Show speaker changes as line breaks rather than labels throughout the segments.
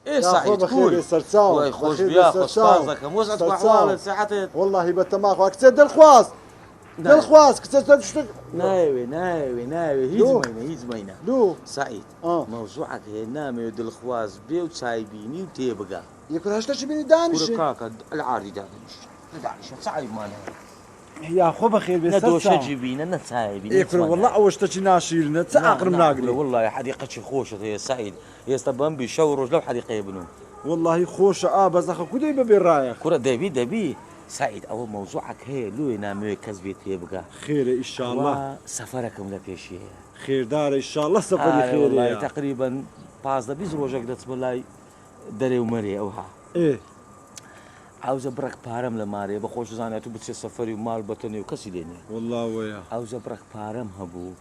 یاخوا بەخێربێ سەرچاو بەخێربێ سەرچاو سەرچاو وەڵاهی بەتەماخ وا
کچێ دڵخواز دڵخواز کچە چەند شتێک نایەوێ نایەوێ
نایەوێ هیچ مەینە هیچ مەینە دوو سعید مەوزوعەکە هێ نامەوێ دڵخواز بێ و چایبینی و تێبگا یەکراشتەشی بینی
دانیش کاکە العاردی
دادەنیشت دانیشە چ عیبمانە یا
خۆ بەخێر بێ نە سەر دۆشە چاوم جی بی نە
نە چایە بی نە ئێ کورە هیچمان وەڵا نایە ئەوە شتەکی
ناشیرنە چ نا ئاقرم نا کورە ناگرێ وەڵڵاهی حەدیقەکی
خۆشت هەیە سەعید ئێستە بەمبی شەو و ڕۆژ لەو حەدیقەیە بنوو. وەڵاهی خۆشە
ئا بەس ئەخە کو دەی بەبێ ڕایەخ. کورە دەبی دەبی
سەعید ئەوە مەوزوعەک هەیە لۆیە نامەوێ کەس بێ تێ بگا خێرە کوا ئیشاڵڵا
سەفەرەکم لە پێشیەیە.
خێردارە
ئیشاڵڵا سەفەری ئارە وەڵاهی خێرێیە. تەقریبەن
پازدە بیست ڕۆژێک دەچمە لای دەرێ و مەرێ ئەوها. ئێ. ئاوجە بڕەک پارەم لە مارێ بە خۆش زانیات و بچێ سەفەری و مال بەتە نێو کەسی لێ نیە. وەڵڵا وەیە. ئاوجە
بڕەک پارەم
هەبوو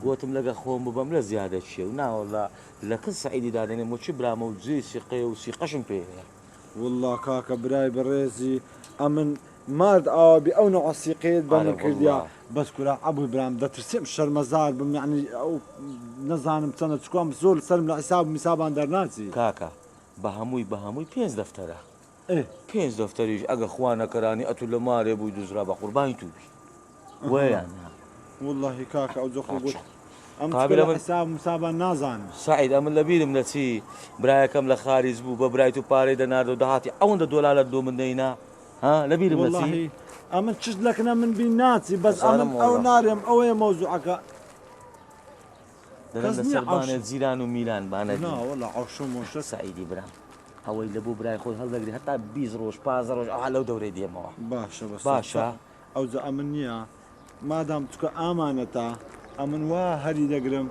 گۆتم لەگە خۆم ببەم لە زیادە چیە و نا وەڵڵا لە کن سەعیدی دادەنێم و چ برامە و جێی سیقەیە و سیقەشم پێ هەیە. وەڵڵا
کاکە برای بەڕێزی ئەمن مارد ئاوا بی ئەو نەوعە سیقەیەت بە من کردیا بەس کورە عەبوی برام دەترسێم شەرمەزار بم یەعنی ئەو نەزانم چەنە چکوام زۆر سەرم لە حیساب و میسابان دەرناچی. کاکە بە
هەمووی بە هەمووی پێنج دەفتەرە. ئێ پێنج
دەفتەریش
ئەگە خوا نەکەرانی ئەتو لە مارێ بووی دوزرا بە قوربانی تو بی وە یا نا. وەڵاهی
کاکە ئەو جەخت و گوت ئەم قابل چکە لە ئەمن
حساب مسابا
نازانن. سەعید ئەمن لە بیرم
نەچی برایەکەم لە خاریج بوو بە برای تو پارەی دەناردەوە دەهاتی ئەوەندە دۆلالەت لۆ من دەینا ها لە بیرم نەچی. وەڵاهی ئەمن
چشت لە کنە من بی ناچی بەس ئەمن ئەو نارێم ئەوەیە مەوزوعەکە.
دەرم لە سەر بانێ جیران و میران بانە نا وە لە عەوشە
مۆشە سعیدی برام
ئەوەی لە بۆ برای خۆت هەڵدەگری هەتا بیست ڕۆژ پازە ڕۆژ ئەوها لەو دەورەی دێمەوە باشە بەس باشە
ئەو جا
ئەمن
نییە مادام چکە ئامانەتە ئەمن وا هەری دەگرم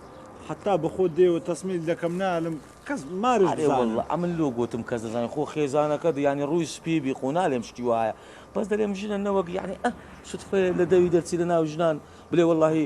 حتا بەخۆ دێوە تەسمیل دەکەم نالم کەس مارش ئەمن لۆ
گوتم کەس دەزانین خۆ خێزانەکە ینی ڕووی سپی بی خۆ نالێم شتی وایە بەس دەێم ژنە نەوەک یعنی ئە سوتفێ لە دەوی دەرچی لە ناو ژنان بلێ واللهی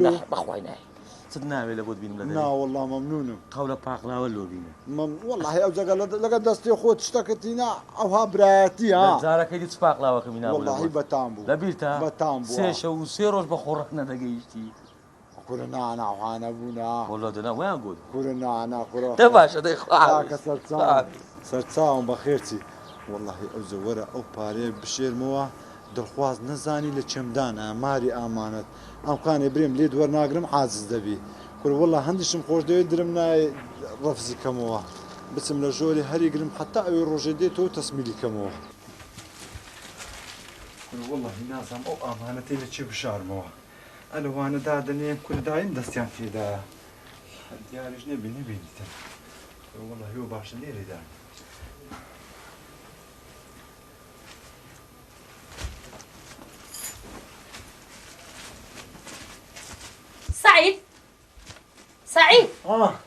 لۆ نە بەخوای نایە چت ناوێ لە بۆت بینم لە نا واللە مەمنونم
قەولە پاقلاوە لۆ
بینە مەم واللە ئەو جەگە
لەگە دەستی خۆت شتەکەتینا ئەوها برایەتی ها جارەکەی دی چ پاقلاوەکەمی
ناو واللە بەتام بوو
لەبیرتە بەتام
بوو سێ شەو و
سێ ڕۆژ بە
خۆڕ نەدەگەیشتی کورە نانا
هانە بوونا واللە دەنا ویان گوت
کورە نانا کورە
دە باشە دەی خواکە سەرچاوم سەرچاوم بەخێرچی واللە ئەو جەوەرە ئەو پارەیە بشێرمەوە دڵخواز نەزانی لە چێمدانە ماری ئامانەت ئەم قانێ برێم لێت وەرناگرم عاجز دەبی کورە وەڵا هەندیشم خۆش دەوێت درم نایە ڕەفزی کەمەوە بچم لە ژۆری هەری گرم حتا ئەوێ ڕۆژێ دێت تۆ تەسمیلی کەمەوە وەڵی نازام ئەو ئامانەتی لە چێ بشارمەوە ئەلەوانە دادەنێن کوردایم دەستیان تێدایە دیاریش نەبی نەبینیتە وەڵی هو باشە لێرێدان
سعید سعید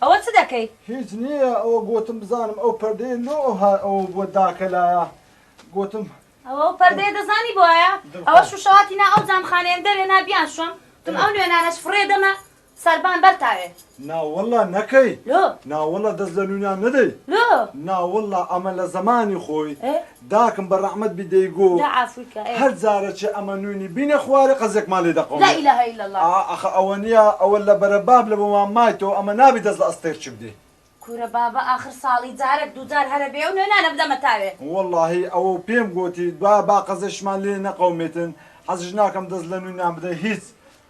ئەوە چ دەکەی هیچ نییە
ئەوە گوتم بزانم ئەو پەردەیە لۆ ئەو بۆ داکە لایە گوتم ئەوە پەردەیە
دەزانی بۆیە ئەوە شوشەواتی نا ئەو جامخانەیەم دەوێ نابیان شوم تم ئەو نوێنانەش فڕێ دەمە سەربان بەر تاوێ. ناوەڵا نەکەی.
لۆ. ناوەڵا
دەست لە
نوونان نەدەی. لۆ. ناوەڵا
ئەمە
لە زەمانی خۆی ئێ. داکم بە ڕەحمەت بی دەیگۆ. جا عافوی کە ئێ. هەر جارەچێ ئەمە نوونی بینێ خوارێ قەزێکمان لێ دەقەومێ. لا الە الا اللە. ئا
ئاخە ئەوە نیە
ئەوە لە بەرە باب لە بۆمان مایتەوە ئەمە نابی دەست لە ئەستێر چ بدەی. کورە بابە
ئاخر ساڵی جارەک دوو جار هەرە بێ ئەو نوێنانە بدەمە تاوێ. وەڵاهی ئەوەو
پێم گۆتی دوایە با قەزێشمان لێ نەقەومێتن حەزش ناکەم دەست لە نوونان بدەی هیچ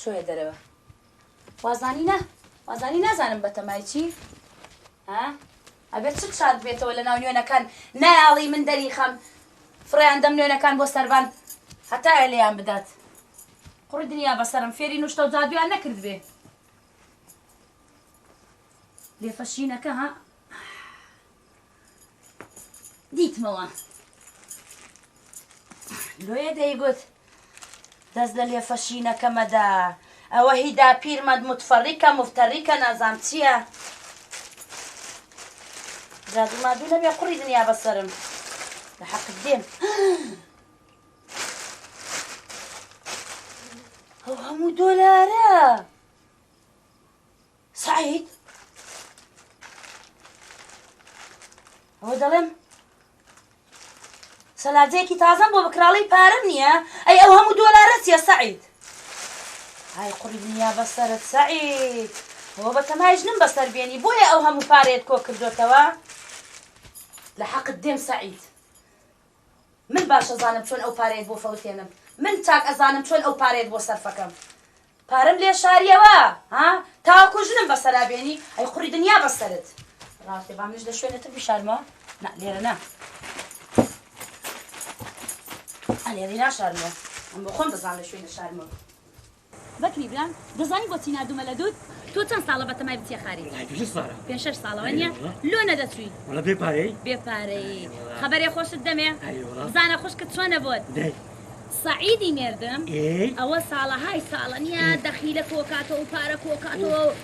چۆیە دەرەوە وازانی نا وازانی نازانم بەتەمای چی ها ئەگەر چ چات بێتەوە لە ناو نوێنەکان نایاڵی من دەری خەم فڕیان دەم نوێنەکان بۆ سەربان هەتایە لێیان بدات قڕی دنیا بەسەرم فێری نوشتە و جادویان نەکرد بێ لێفەشینەکە ها دیتمەوە لۆیە دەیگوت دەست لە لێفە شینەکەمەدا ئەوە هی داپیرمەد متفەڕیکە مفتەڕیکە نازام چییە؟ جادو مادو نەبێ قوڕی دنیا بەسرم لە حەق دێن ئەو هەموو دۆلارە سەعید ئەوە دەڵێم سەلاجەیەکی تازەم بۆ بکراڵی پارەم نییە ئەی ئەو هەموو دۆلارە چیە سەعید ئای قڕی دنیا بەسەرت سەعید هۆ بە تەمای ژنم بەسەر بێنی بۆیە ئەو هەموو پارێت کۆ کردوێتەوە لە حەقت دێم سەعید من باش ئەزانم چۆن ئەو پارەیەت بۆ فەوتێنم من چاک ئەزانم چۆن ئەو پارەیەت بۆ سەرفەکەم پارەم لێ شاریەوە ها تاوەکو ژنم بەسەرا بێنی ئەی قوڕی دنیا بەسەرت ڕاستێ با منش لە شوێنێتر بشارمەوە نا لێرە نا ئەلێری ناشارمەوە ئەم بۆ خۆم دەزان لە شوێنە شارمەوە بەکری برام دەزانی بۆچی ناردومە لە دوت. تۆ چەند ساڵە بەتەمای بچیە خارج. وەڵای پێنج شەش ساڵە. پێنج شەش ساڵە وەنیە؟ ئەرێ وەڵا. لۆ نەدەچوی؟ وەڵا بێ پارەی. بێ پارەی. ئەرێ وەڵا. خەبەرێ خۆشت دەمێ؟ ئەرێ وەڵا. بزانە خوشکت چۆنە بۆت؟ دەی. سەعیدی مێردم ئێ. ئەوە ساڵەهای ساڵە نیە دەخیلە کۆکاتەوە و پارە کۆکاتەوە و.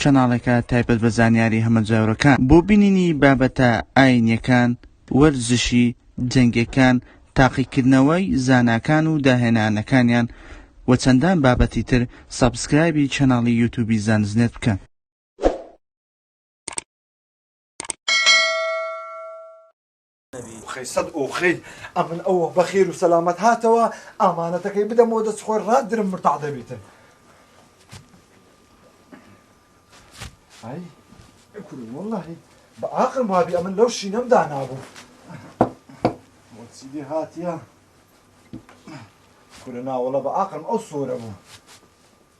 چەناڵێکە تایبەت بە زانیاری هەمەجۆرەکان بۆ بینینی بابەتە ئاینیەکان، وەرزشی، جەنگێکان، تاقیکردنەوەی زاناکان و داهێنانەکانیان و چەندان بابەتی تر سەبسکرایبی چەناڵی یوتوبی زانستنێت بکەن.
خەی سەد ئۆخەی ئەمن ئەوە بەخێر و سەلامەت هاتەوە ئامانەتەکەی بدەمەوە دەست خۆی ڕات درم مرتاع دەبیتن ئەی کورو وەڵاهی بە ئاقم وابی ئەمن لەو شینەم دانابوو چیدی هاتیە کورە ناوەڵە بە ئاقم ئەو سۆرە بوو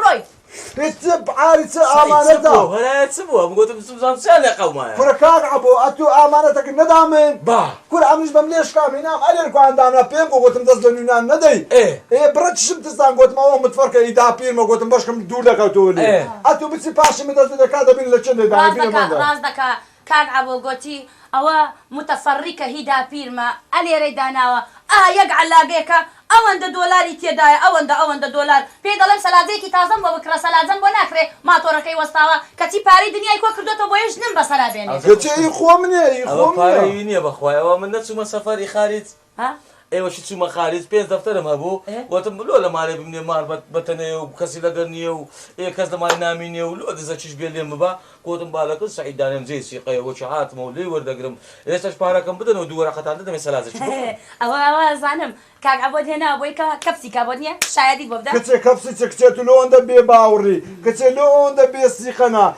ڕۆی
هتب عاری چ ئامانەتە هەرایە چ بووە
بگوتم سوزان چیان لە قەومایە کورە کاک عەبۆ ئەتوو
ئامانەتەکە نەدامن با کورە ئەمنیش
بەم لێشکا
مینام ئەلێر کوان دانا پێم بۆ گوتم دەست لە نوینان نەدەی ئێ ئێ بڕە چشم تستان گوتم ئەوە متفەرکە ئی دا پیرمە گوتم بەشکم دوور دەکەوتەوە لێ ئەتوو بچی پاشی من دەست بدە کا دەبین لە چێ دەی دانێ بینە مەندە
کاک عەبۆ گۆتی ئەوە موتەفەڕیکە هی داپیرمە ئە لێرەی داناوە ئا یەک عەلاگەیەکە ئەوەندە دۆلاری تێدایە ئەوەندە ئەوەندە دۆلار پێی دەڵێم سەلاجەیەکی تازەم بۆ بکڕە سەلاجەم بۆ ناکرێ ماتۆڕەکەی وەستاوە کەچی پارەی دنیای کۆ کردۆتەوە بۆیە ژنم بەسەرا بێنێ. کچە ئی خۆم نیە ئی
خۆم نیە. ئەوە پارەی وی نیە
بەخوای ئەوە من نەچومە سەفەر ئی خاریج. ئێوەشی چوومە خارج پێنج دەفتەرم هەبوو وتم لۆ لە مالێ بمنێ مار بە تەنێ و کەسی لەگەر نییە و ئێ کەس لە مالی نامینێ و لۆ دزە چیش بێ لێم ببە گوتم با لەگەل سەعید دانێم جێی سیقەیە وەکی هاتمە و لێی وەردەگرم ئێستەش پارەکەم بدەنەوە دوو وەرەقەتان دەدەمێ سەلاجەکی بخۆن. ئەوە ئەوە ئەزانم
کاک عەبۆت هێناوە بۆی کە کەپسی کا بۆت نییە شایەدیت بۆ بدات. کچێ کەپسی چ کچێ
تو لۆ ئەندە بێ باوڕی کچێ لۆ ئەوەندە بێ سیقەنە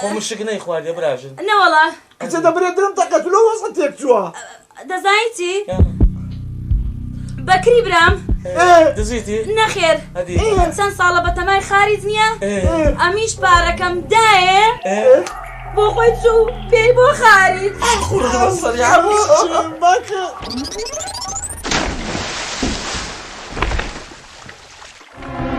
خۆ
مشک نەیخواردیە براژن. نەوەڵا. کچە
دەبرێ درم
تەقە تو لەو وەزعە تێک چووە. دەزانی چی؟
بەکری برام. دزیتی؟
نەخێر.
چەند
ساڵە بەتەمای
خاریت نییە؟ ئەمیش پارەکەم دایێ؟ بۆ خۆی چوو پێی بۆ خاریت.